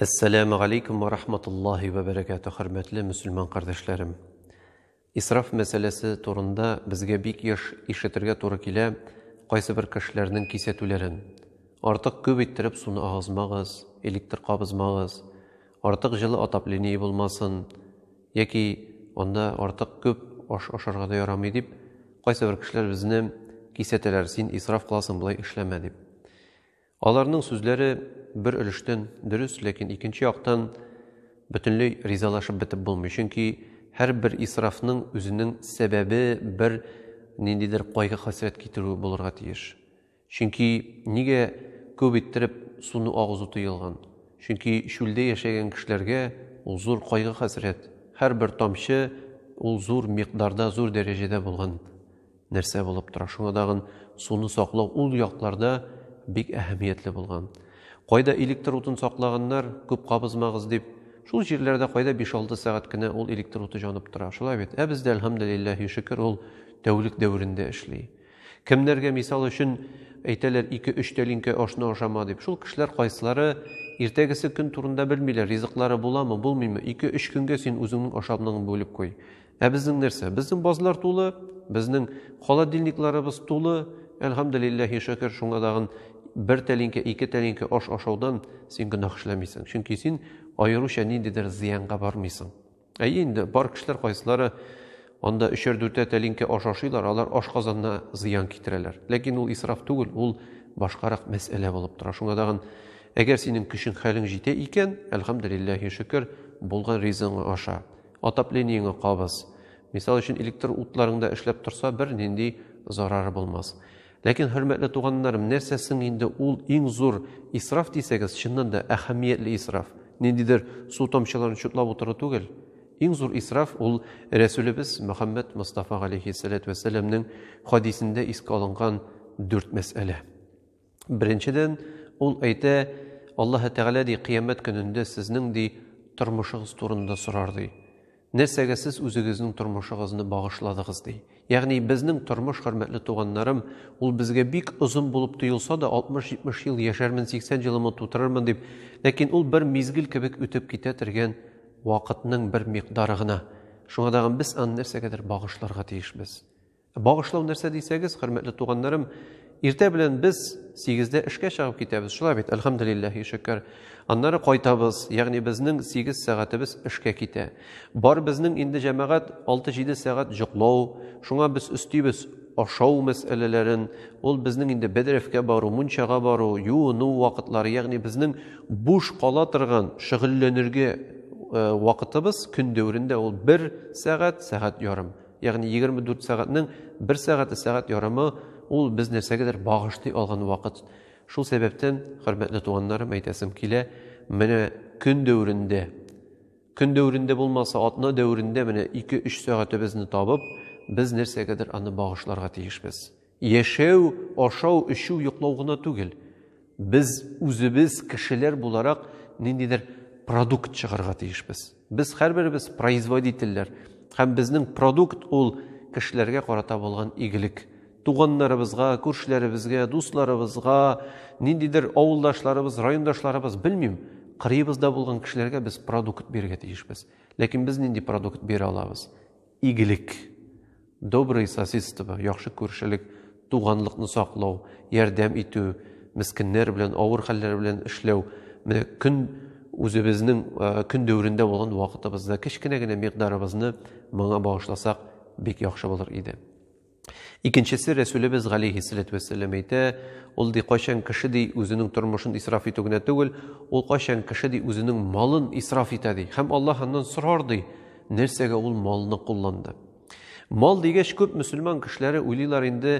Әссәләму алейкум ва рахматуллахи ва бәрәкәтү, хөрмәтле мөселман кардәшләрем. Исраф мәсьәләсе турында безгә бик еш ишетергә туры килә кайсы бер кешеләрнең кисәтүләрен. Артык күп иттереп суны агызмагыз, электр кабызмагыз, артык җылы отопление булмасын, яки анда артык күп аш ашарга да ярамый дип, кайсы бер кешеләр безне кисәтәләр, син исраф кыласың, болай эшләмә дип. Аларның сүзләре бер өлештән дөрес, ләкин икенче яктан бөтенләй ризалашып бетеп булмый, чөнки һәрбер исрафның үзенең сәбәбе бер ниндидер кайгы-хәсрәт китерү булырга тиеш. Чөнки нигә күп иттереп суны агызу тыелган? Чөнки чүлдә яшәгән кешеләргә ул зур кайгы-хәсрәт, һәрбер тамчы ул зур микъдарда, зур дәрәҗәдә булган Нәрсә булып тора? Шуңа тагын суны саклау ул якларда бик әһәмиятле булган. Кайда электр утын саклаганнар, күп кабызмагыз дип, шул җирләрдә кайда биш-алты сәгать кенә ул электр уты җанып тора. Шулай бит? Ә бездә, әлхәмдүлилләһи шөкер, ул тәүлек дәверендә эшли. Кемнәргә, мисал өчен, әйтәләр, ике-өч тәлинкә ашны ашама дип. Шул кешеләр кайсылары иртәгесе көн турында белмиләр, ризыклары буламы, булмыймы, ике-өч көнгә син үзеңнең ашамныңны бүлеп куй. Ә безнең нәрсә? Безнең базлар тулы, безнең холодильникларыбыз тулы. Әлхамдулиллахи шөкер, шуңа дагын бер тәлинкә, ике тәлинкә аш ашаудан син гөнаһ эшләмисең. Чөнки син аеруча ниндидер зыянга бармыйсың. Әйе инде, бар кешеләр кайсылары анда өчәр дүртә тәлинкә аш ашыйлар, алар аш казанына зыян китерәләр. Ләкин ул исраф түгел, ул башкарак мәсьәлә булып тора. Шуңа дагын әгәр синең көчең хәлең җитә икән, әлхамдулиллахи шөкер, булган ризыгың аша. Отоплениеңе кабыз. Мисал өчен, электр утларыңда эшләп торса, бер нинди зарары булмас. Ләкин, хөрмәтле туганнарым, нәрсә соң инде ул иң зур исраф дисәгез, чыннан да әһәмиятле исраф. Ниндидер су тамчыларын чутлап утыру түгел. Иң зур исраф ул Рәсүлебез Мөхәммәд Мостафа галейхиссәләтү вәссәламнең хадисендә искә алынган дүрт мәсьәлә. Беренчедән, ул әйтә, Аллаһы Тәгалә ди, кыямәт көнендә сезнең ди тормышыгыз турында сорар ди. Нәрсәгә сез үзегезнең тормышыгызны багышладыгыз ди. Ягъни безнең тормыш, хөрмәтле туганнарым, ул безгә бик озын булып тоелса да, 60-70 ел яшәрмен, 80 җылымы тутырырмын дип, ләкин ул бер мизгел кебек үтеп китә торган вакытның бер микъдары гына. Шуңа дагы без аны нәрсәгәдер багышларга тиешбез. Багышлау нәрсә дисәгез, хөрмәтле туганнарым, иртә белән без сигездә эшкә чыгып китәбез, шулай бит, әлхәмдулилләһи шөкер. Аннары кайтабыз, ягъни безнең сигез сәгатебез эшкә китә. Бар безнең инде җәмәгать алты-җиде сәгать җоклау, шуңа без өстибез ашау мәсьәләләрен, ул безнең инде бәдрәфкә бару, мунчага бару, юыну вакытлары, ягъни безнең буш кала торган шөгыльләнергә э, вакытыбыз көн дәверендә ул бер сәгать, сәгать ярым. Ягъни 24 сәгатьнең бер сәгате сәгать ярымы ул без нәрсәгәдер багышлый алган вакыт. Шул сәбәптән, хөрмәтле туганнарым, әйтәсем килә, менә көн дәверендә, көн дәверендә булмаса, атна дәверендә менә 2-3 сәгатебезне табып, без нәрсәгәдер аны багышларга тиешбез. Яшәү, ашау, эчү, йоклау гына түгел. Без үзебез кешеләр буларак ниндидер продукт чыгарга тиешбез. Без һәрберебез производительләр һәм безнең продукт ул кешеләргә карата булган игелек. Туганнарыбызга, күршеләребезгә, дусларыбызга, ниндидер авылдашларыбыз, райондашларыбыз, белмим, кырыебызда булган кешеләргә без продукт бирергә тиешбез. Ләкин без нинди продукт бирә алабыз? Игелек, доброе сосидство, яхшы күршелек, туганлыкны саклау, ярдәм итү, мескеннәр белән, авыр хәлләр белән эшләү, менә көн үзебезнең көн дәверендә булган вакытыбызда кечкенә генә микъдарыбызны моңа багышласак, бик яхшы булыр иде. Икенчесе Рәсүлебез галәйһиссәләтү вәссәлам әйтә, ул ди кайчан кеше ди үзенең тормышын исраф итү генә түгел, ул кайчан кеше ди үзенең малын исраф итә ди. Һәм Аллаһ аннан сорар ди, нәрсәгә ул малны кулланды. Мал дигәч, күп мөселман кешеләре уйлыйлар инде,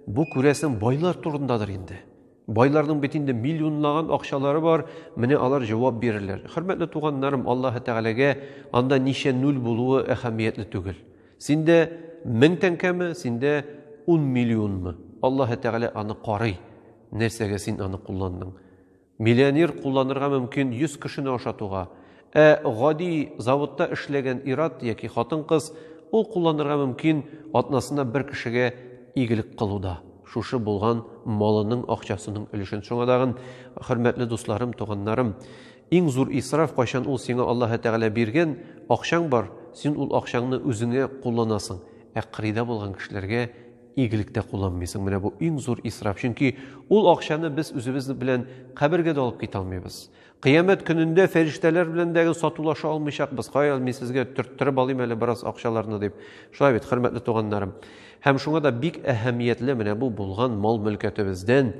бу күрәсең байлар турындадыр инде. Байларның бит инде миллионлаган акчалары бар, менә алар җавап бирерләр. Хөрмәтле туганнарым, Аллаһы Тәгаләгә анда ничә нуль булуы әһәмиятле түгел. Синдә 1000 тәңкәме, синдә 10 миллионмы? Аллаһы Тәгалә аны карый. Нәрсәгә син аны кулландың? Миллионер кулланырга мөмкин 100 кешене ашатуга, Ә гади заводта эшләгән ир-ат яки хатын-кыз ул кулланырга мөмкин атнасына бер кешегә игелек кылуда, шушы булган малының акчасының өлешен. Шуңа тагын, хөрмәтле дусларым, туганнарым, иң зур исраф кайчан ул сиңа Аллаһы Тәгалә биргән акчаң бар, син ул акчаңны үзеңә кулланасың, ә кырыйда булган кешеләргә игелектә кулланмыйсың. Менә бу иң зур исраф. Чөнки ул акчаны без үзебез белән кабергә дә алып китә алмыйбыз. Кыямәт көнендә фәрештәләр белән дә сатулаша алмыйчакбыз. Кая, мин сезгә төрттереп алыйм әле бераз акчаларны дип. Шулай бит, хөрмәтле туганнарым. Һәм шуңа да бик әһәмиятле менә бу булган мал-мөлкәтебездән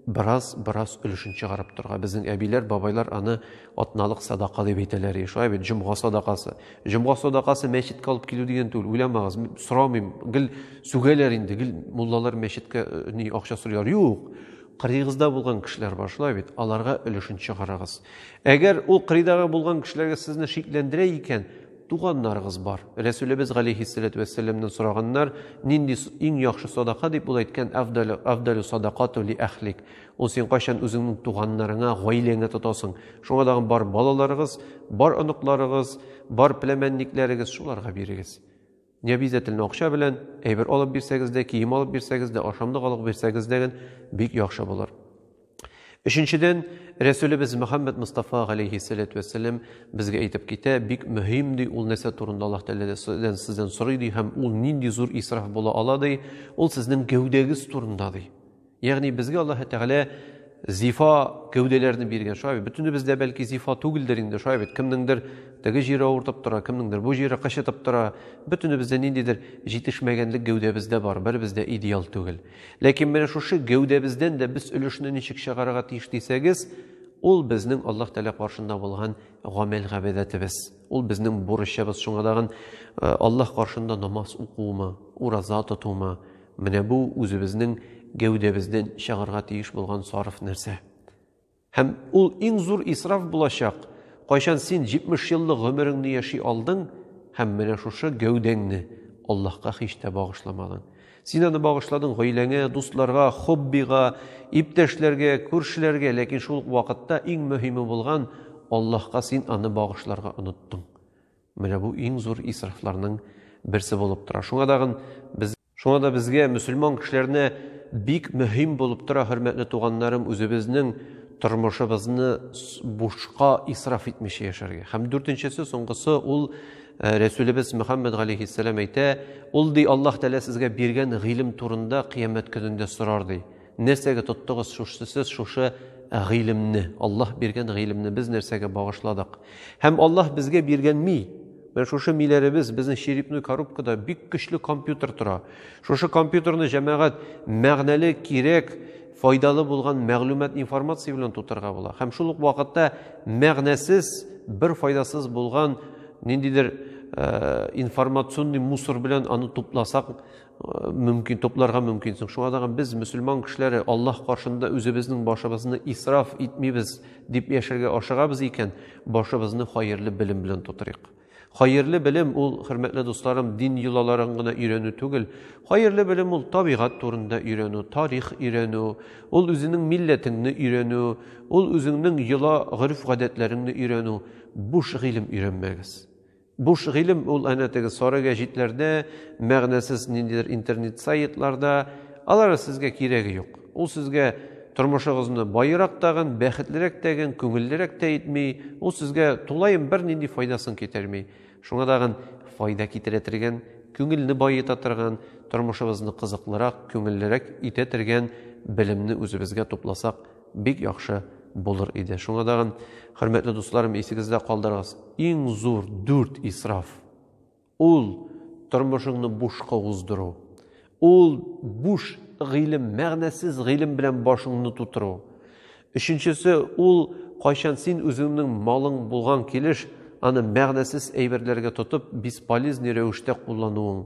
бераз бераз өлешен чыгарып торга. Безнең әбиләр, бабайлар аны атналык садака дип әйтәләр иде. Шулай бит, җомга садакасы. Җомга садакасы мәчеткә алып килү дигән түгел, уйламагыз, сорамыйм. Гел сүгәләр инде, гел муллалар мәчеткә э, ни акча сорыйлар. Юк. Кырыегызда булган кешеләр бар, шулай бит, аларга өлешен чыгарыгыз. Әгәр ул кырыйдагы булган кешеләргә сезне шикләндерә икән, туганнарыгыз бар. Рәсүлебез галәйһиссәләтү вәссәламнән сораганнар, нинди иң яхшы садака дип ул әйткән, афдалю, афдалю садакату ли әхлик. Ул син кайчан үзеңнең туганнарыңа, гаиләңә тотасың. Шуңа тагын бар балаларыгыз, бар оныкларыгыз, бар пләмәнникләрегез шуларга бирегез. Не обязательно акча белән, әйбер алып бирсәгез дә, кием алып бирсәгез дә, ашамлык алып бирсәгез дә бик яхшы булыр. Өченчедән, Рәсүлебез Мөхәммәд Мустафа галейхи салату вәссәлам безгә әйтеп китә, бик мөһим ди ул нәрсә турында Аллаһ Тәгаләдән сездән сорый ди һәм ул нинди зур исраф була ала ди, ул сезнең гәүдәгез турында ди. Ягъни безгә Аллаһы Тәгалә зифа гәүдәләрне биргән. Шулай бит, бөтенебез дә бәлки зифа түгелдер инде, шулай бит. Кемнеңдер теге җире авыртып тора, кемнеңдер бу җире кычытып тора. Бөтенебез дә ниндидер җитешмәгәнлек гәүдәбез дә бар, беребез дә идеал түгел. Ләкин менә шушы гәүдәбездән дә без өлешне ничек чыгарырга тиеш дисәгез, ул безнең Аллаһ Тәгалә каршында булган гамәл габәдәтебез. Ул безнең бурычыбыз. Шуңа тагын э, Аллаһ каршында намаз укуымы, ураза тотуымы, Менә бу үзебезнең гәүдәбездән чыгарга тиеш булган сарыф нәрсә. Һәм ул иң зур исраф булачак, кайчан син 70 еллык гомереңне яши алдың һәм менә шушы гәүдәңне Аллаһка һич тә багышламадың. Син аны багышладың гаиләңә, дусларга, хоббига, иптәшләргә, күршеләргә, ләкин шул ук вакытта иң мөһиме булган Аллаһка син аны багышларга оныттың. Менә бу иң зур исрафларның берсе булып тора. Шуңа дагын без Шуңа да безгә мөселман кешеләренә бик мөһим булып тора, хөрмәтле туганнарым, үзебезнең тормышыбызны бушка исраф итмичә яшәргә. Һәм дүртенчесе, соңгысы ул Э, Рәсүлебез Мөхәммәд галәйһиссәлам әйтә, ул ди Аллаһ Тәгалә сезгә биргән гыйлем турында кыямәт көнендә сорар ди. Нәрсәгә тоттыгыз шушы сез шушы гыйлемне, Аллаһ биргән гыйлемне без нәрсәгә багышладык? Һәм Аллаһ безгә биргән ми, Менә шушы миләребез, безнең черепной коробкада бик көчле компьютер тора. Шушы компьютерны җәмәгать мәгънәле, кирәк, файдалы булган мәгълүмат информация белән тутырга була. Һәм шул ук вакытта мәгънәсез, бер файдасыз булган ниндидер э, информационный мусор белән аны тупласак, мөмкин тупларга мөмкин соң шуңа тагын без мөселман кешеләре аллаһ каршында үзебезнең башыбызны исраф итмибез дип яшәргә ашыгабыз икән башыбызны хәерле белем белән тутырыйк хәерле белем ул хөрмәтле дусларым дин йолаларын гына өйрәнү түгел хәерле белем ул табигать турында өйрәнү тарих өйрәнү ул үзенең милләтеңне өйрәнү ул үзеңнең йола гореф гадәтләреңне өйрәнү буш гыйлем өйрәнмәгез Буш гыйлем ул әнә теге сары гәҗитләрдә, мәгънәсез ниндидер интернет сайтларда. Алары сезгә кирәге юк. Ул сезгә тормышыгызны баерак тагын, бәхетлерәк тәген, күңеллерәк тә итми, ул сезгә тулаем бернинди файдасын китерми. Шуңа тагын файда китерә тергән, күңелне баета торган, тормышыбызны кызыклырак, күңеллерәк итә тергән белемне үзебезгә тупласак, Бик яхшы булыр иде. Шуңа тагын, хөрмәтле дусларым, исегездә калдырыгыз. Иң зур дүрт исраф. Ул тормышыңны бушка уздыру. Ул буш гыйлем, мәгънәсез гыйлем белән башыңны тутыру. Өченчесе ул кайчан син үзеңнең малың булган килеш аны мәгънәсез әйберләргә тотып, бесполезный рәвештә куллануың.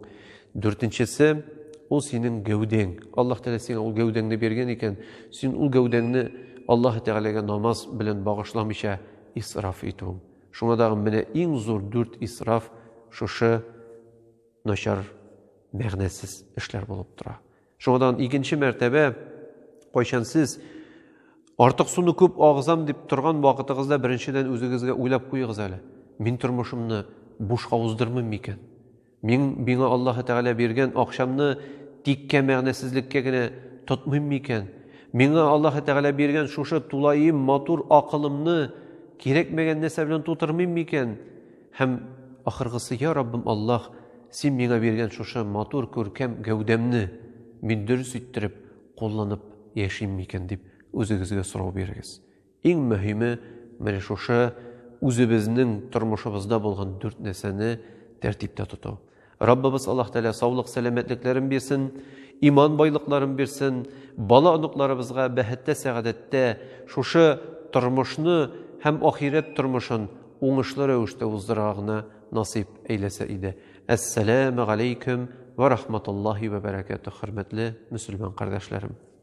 Дүртенчесе, ул синең гәүдәң. Аллаһ Тәгалә сиңа ул гәүдәңне биргән икән, син ул гәүдәңне Аллаһ Тәгаләгә намаз белән багышламыйча исраф итүең. Шуңа да менә иң зур дүрт исраф шушы начар мәгънәсез эшләр булып тора. Шуңа да икенче мәртәбә кайчан сез артык суны күп агызам дип торган вакытыгызда беренчедән үзегезгә уйлап куегыз әле. Мин тормышымны бушка уздырмыйм микән? Мин миңа Аллаһы Тәгалә биргән акчамны тиккә мәгънәсезлеккә генә тотмыйм микән? Миңа Аллаһы Тәгалә биргән шушы тулаем матур акылымны кирәкмәгән нәрсә белән тутырмыйм микән? Һәм ахыргысы, я Раббым Аллаһ, син миңа биргән шушы матур күркәм гәүдәмне мин дөрес иттереп кулланып яшим микән дип үзегезгә сорау бирегез. Иң мөһиме, менә шушы үзебезнең тормышыбызда булган дүрт нәрсәне тәртиптә тоту. Раббыбыз Аллаһ Тәгалә саулык, сәламәтлекләрен бирсен, иман байлыкларын бирсен, бала оныкларыбызга бәхеттә, сәгадәттә шушы тормышны һәм ахирәт тормышын уңышлы рәвештә уздырырга гына насыйп әйләсә иде. Әссәламә галәйкүм вә рахматуллаһи вә бәрәкәтү, хөрмәтле мөселман кардәшләрем.